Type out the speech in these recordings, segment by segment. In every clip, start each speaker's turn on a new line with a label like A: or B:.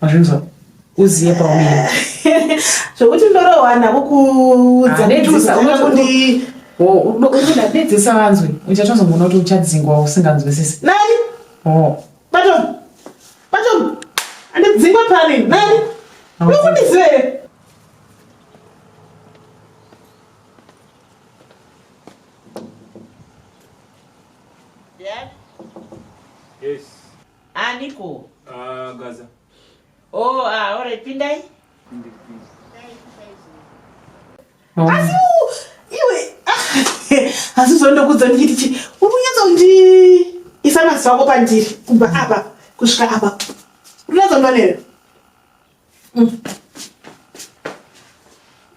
A: Mazvinzwa? Uziye paumira. Zvekuti
B: ndorohwa nako kuudza kutusa unokundi oh, unoda
A: dedzisa vanzwe uchatozomboona kuti uchadzingwa usinganzwisisi. Nani? Oh.
B: Batom. Batom. Andidzingwa pani? Nani? Unokundiziva here? Yes. aniko ah gaza oh ah alright pindai asi iwe asi zvandokudza ndichiti uri kunyatsa kundi isa maziso ako pandiri kubva apa kusvika apa uri kunyatsa kunonera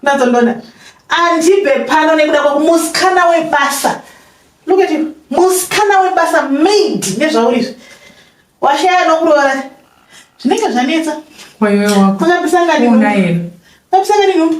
B: Nazondona. Andibe pano nekuda kwakumusikana webasa. Look at you. Musikana webasa maid nezvauri. Washaya nokuroora. Zvinenge zvanetsa. Wewe wako. Unabisanga ni. Unaye. Unabisanga ni.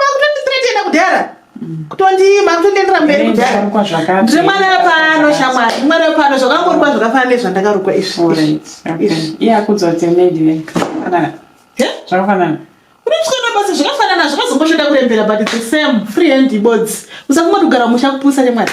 A: Makutonditretena
B: kudhara kutondi makutondiendera mberi kudhara ndiri mwana wepano shamwari ndiri mwana wepano zvakangorukwa zvakafana nezvandakarukwa izvi iya
A: kudzodze medi zvakafanana unotyona
B: basa zvakafanana zvakazongoshoda kurembera but the same free hand ibodzi usafuma kugara musha kupusa chemwari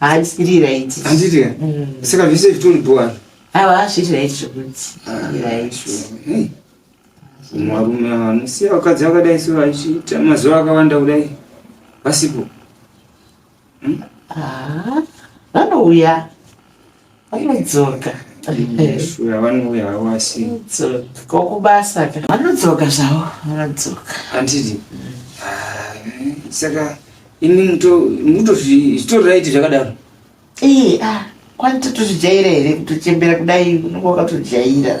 B: Handiri right. Handiri right. Mm.
C: Saka zvese zvitori bhuwa. Awa hazviri right
B: zvokuti. Ah, right. Varume
C: ava vanosiya vakadzi vakadai so vachiita mazuva akawanda kudai vasipo. Hmm? Ah,
D: vanouya. vanodzoka
C: vanouya havo asi kokubasa
D: ka vanodzoka zvavo vanodzoka anditi
C: ah, saka ini mutozvitoriraiti zvakadaro ee a ah,
D: kwani totozvijaira here kutochembera kudai unenge wakatojaira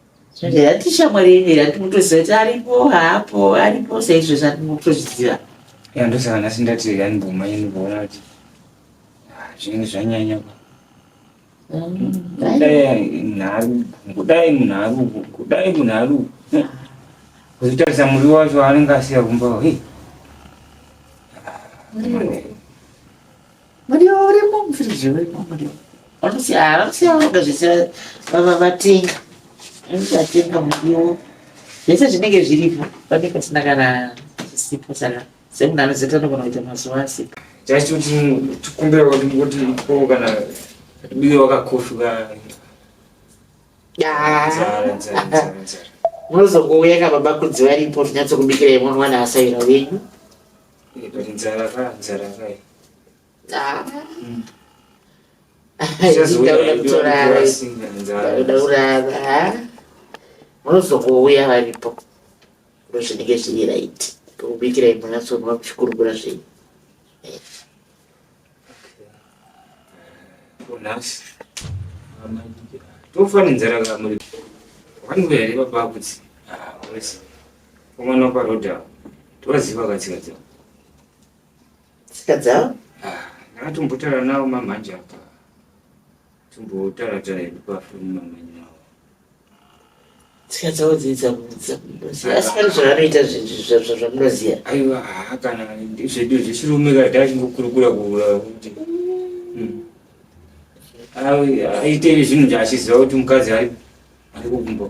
D: Zvanje hati shamwari yenyu here hati mutoziva kuti aripo haapo aripo saizvo zvati mutozviziva. Ya ndosaka
C: nhasi ndati yani bvuma yenyu kuona kuti ah, zvinenge zvanyanya pa. Mm, dai. Kudai nharu, kudai munharu, kudai munharu. Eh, Kuzotarisa muri wacho anenge asiya kumba. Hey. Muriwo.
D: Muriwo urimo, mufiriji urimo, muriwo. Vanosiya, vanosiya vanoga zvese vatenga. Vatenga muriwo. Zvese zvinenge zviripo, panenge pasina kana chisipo saka semunhu anoziva anogona kuita mazuva asipo. Just kuti
C: tikumbira kuti kuti ko kana uye wakakoshuka. Yaa. Zara, zara,
D: zara, zara. Unozongouya kababa kudzi varipo tinyatsokubikirai mwana asaira wenyu. munozongouya varipo ndozvinenge zviri right kubikirai munyatsonwa kuchikurukura zvenyu nhasi
C: tofanenzera kamuri vanhu here vabakudzi ah, Umwana kwa Roda. Toziva katsika dzavo.
D: Tsika dzavo? Ah, ndakatombotara
C: nawo mamhanje apa. Tombotara tara hedu kwa foni mamhanje nawo.
D: Tsika dzavo dzidza kudza. Asi kana zvavanoita zvinhu zvamunoziva. Aiwa, ah,
C: kana ndizvedu zvechirume kana ndachingokurukura kuura kuti. Hmm. Aite zvinhu zvaachiziva kuti mukadzi ari kukumba.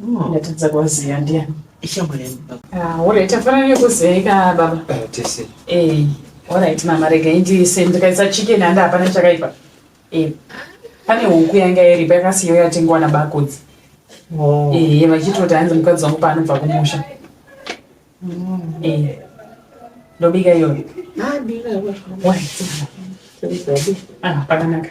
A: Hmm. Ndatadza kuvaziva ndiani? Ishamwari yangu
D: baba. Ah, alright,
A: tafana nekuzeeka baba. Eh, tese.
C: Eh, alright
A: mama rega indiise ndikaisa chicken handi hapana chakaipa. Eh. Pane huku yanga iripo yakasiyo yatengwa nabakodzi. Oh. Eh, vachitoti hanzi mukadzi wangu paanobva kumusha. Mm. Eh. Ndobika iyoyo. Ah, bika. Why? Ah, pakanaka.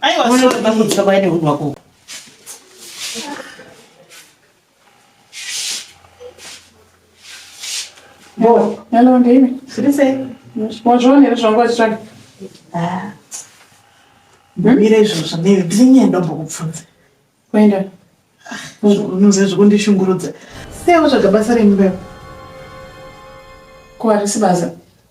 B: Aiwa sorry. Unoda kutsva
D: kwaine hunhu
B: wako.
A: Bo, hello ndini. Siri sei?
B: Wazviona here
A: zvangu wachitsvaga?
B: Ah. Mira izvozvo ndiri ndinye ndombokubvunza. Kuenda. Unoziva zvekundishungurudza. Sei watsvaga basa remumba?
A: Ko harisi basa.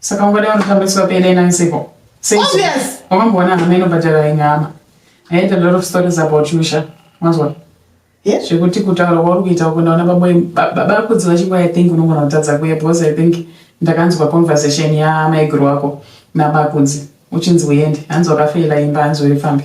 A: Saka ungada unotambiswa pele na nsiko. Obvious.
B: Wakamboona hama
A: inobhadhara inyama. I heard a lot of stories about you, Sha. Mazwa. Yeah. Zvekuti
B: kutaura kwauri
A: kuita uko ndaona baba baba kudzi vachingwa I think unogona kutadza kuya because I think ndakanzwa conversation ya maiguru wako nabakudzi uchinzi uende hanzi wakafeila imba hanzi uri pfambi.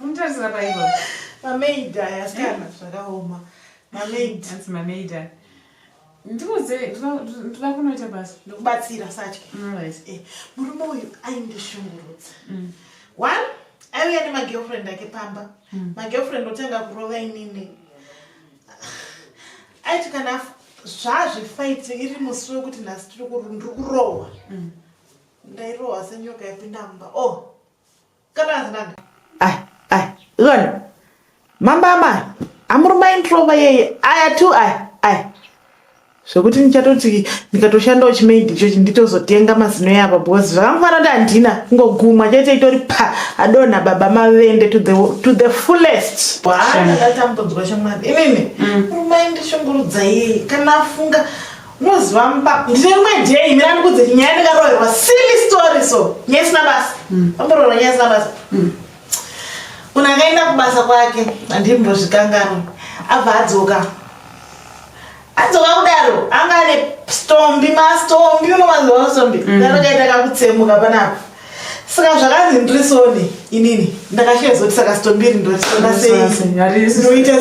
A: Untarisira paipo. Mamaid
B: aya asikana zvakaoma. Mamaid. That's mamaid aya.
A: Ndikuze ndinoda kunoita basa. Ndokubatsira satya.
B: Mm, right. Eh, murume uyu aindishungurudza. Mm. One, aiuya nemagirlfriend ake pamba. Mm. Magirlfriend otanga kurova inini. Aiti kana zvazvefight iri musi wekuti nhasi tiri kurohwa. Mm. ndairohwa senyoka yapinda mumba o oh, kana hazinanga ai ai iona mamba amai amuri maindirova yeye aya tu ai ai zvekuti ndichatoti ndikatoshandawo chimaidi ichochi nditozotenga mazino yapa because zvakamufana kuti handina kungogumwa chete itori pa adonha baba mavende to the, to the fullest bwaandatambudzwa shamwari inini mm. rumaindishungurudzaiye kana afunga Moziva mupako. Ndine rimwe day mira ndikudze nyaya ndakaroerwa silly story so. Nyaya isina basa. Mm. Pamboroerwa nyaya isina basa. Mm. Munhu akaenda kubasa kwake andimbozvikanganwa. Abva adzoka. Adzoka kudaro anga ane stombi mastombi unowanzwa stombi. Mm. Ndakaita kakutsemuka panapa. saka zvakanzi ndiri soni inini ndakashezoti saka sitombiri ndotitonda seinoita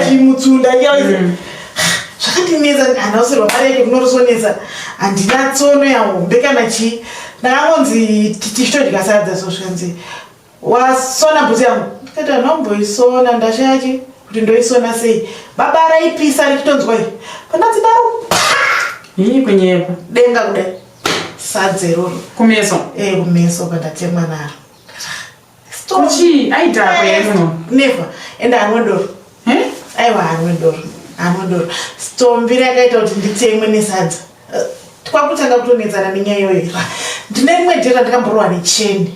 A: seichimutsunda
B: mm. zvakandinetsa handausirwa mari yake kunorisonetsa handina tsono yahombe kana chii ndakangonzi tichitodya sadza so zvikanzi wasona bhutsu yangu ndikati anomboisona ndashaya chi kuti ndoisona sei baba raipisa richitonzwa i pandatsi daro ii
A: kunyepa denga
B: kudai sadze iroro kumeso e
A: kumeso
B: pandatemwa naro
A: chii aitapa yemuno never ende
B: anwe doro aiwa anwe doro anwe doro stombi rakaita kuti nditemwe nesadza eh, kwakutanga kutonetsana nenyaya iyoyo ndine rimwe jera ndakamborowa necheni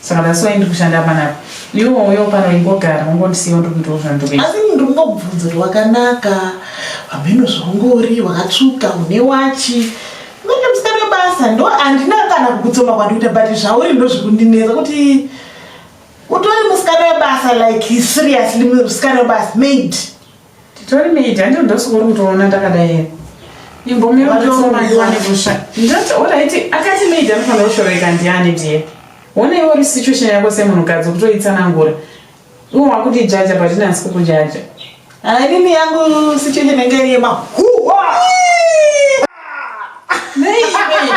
A: Saka that's why ndikushanda panapa. Iwo uyo pano ingogara ungondisiya ndikuitawo zvandikuita. Asi munhu ndikungobvunza
B: kuti wakanaka, pamheno zvaungori wakatsvuka une wachi. Manje musikana webasa ndo andina kana kukutsoma kwandikuita but zvauri ndo zvekundinetsa kuti utori musikana webasa like seriously musikana webasa maid. Titori
A: media ndio ndosokori kutoona ndakadai here. Imbomira kutoona ndiwane kusha. Ndati alright akati media anofanira kushoreka ndiani dear. Wona iwe uri situation yako semunhukadzi kutoitsanangura. Iwe wakuti jaja but ndinasi kukujaja. Hainini
B: yangu situation yanga iri yemahuwa. Nei iwe.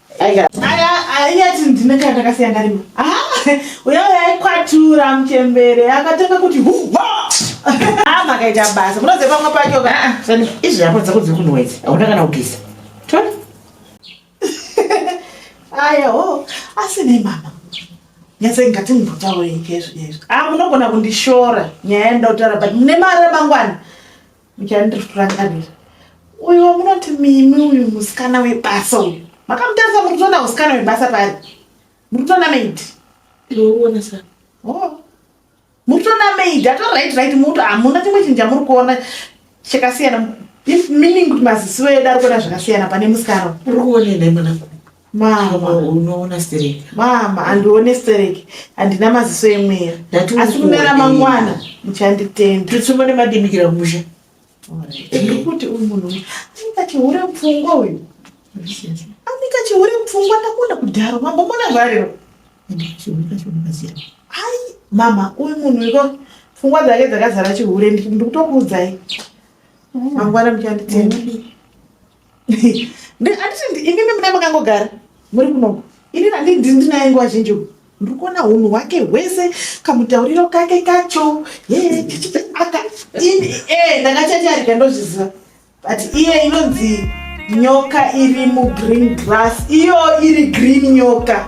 D: Aya, aya
B: tindine kana takasiya ndarima. Ah, uya uya ikwatura mchembere akatanga kuti huwa. Ah, makaita basa. Munoze pamwe pacho ka. Ah, ah sani izvi hapo dzako
D: dziri kunwedzi. Hauna kana kugeza. Tona.
B: Aya, oh, asi ne mama. Nyase ngati mbotaura ikezvo izvo. Ah, munogona kundishora nyaya yendautara but mune mari mangwana. Muchandirakarira. Uyu wamunoti mimi uyu musikana webasa uyu. Makamutarisa muri kutoona musikana webasa pari. Muri kutoona maid. Ndouona
D: sa. Oh.
B: Muri kutoona maid ato right right muto hamuna chimwe chinhu chamuri kuona chakasiyana. If meaning kuti maziso edu ari kuona zvakasiyana pane musikana. Uri kuona enda mwana.
D: Mama
B: unoona sterek.
D: Mama andione
B: sterek. Andina maziso emweya. Asi kune ramangwana muchanditenda. Tutsumba nemadimikira
D: kumusha.
B: Ndikuti uyu munhu uyu. Anika chihure mupfungwa uyu. Anika chihure mupfungwa ndakunda kudhara. Mambo mona zvarero. Hai mama uyu munhu uyu. Pfungwa dzake dzakazara chihure ndikutokuudzai. Mangwana muchanditenda. anditi ini nemudai makangogara muri kunoko ini randi ndinaye nguva zhinji uku ndiri kuona hunhu hwake hwese kamutauriro kake kacho aka ini e ndakachacharika ndozviziva but iye inonzi nyoka iri mugreen grass iyo iri green nyoka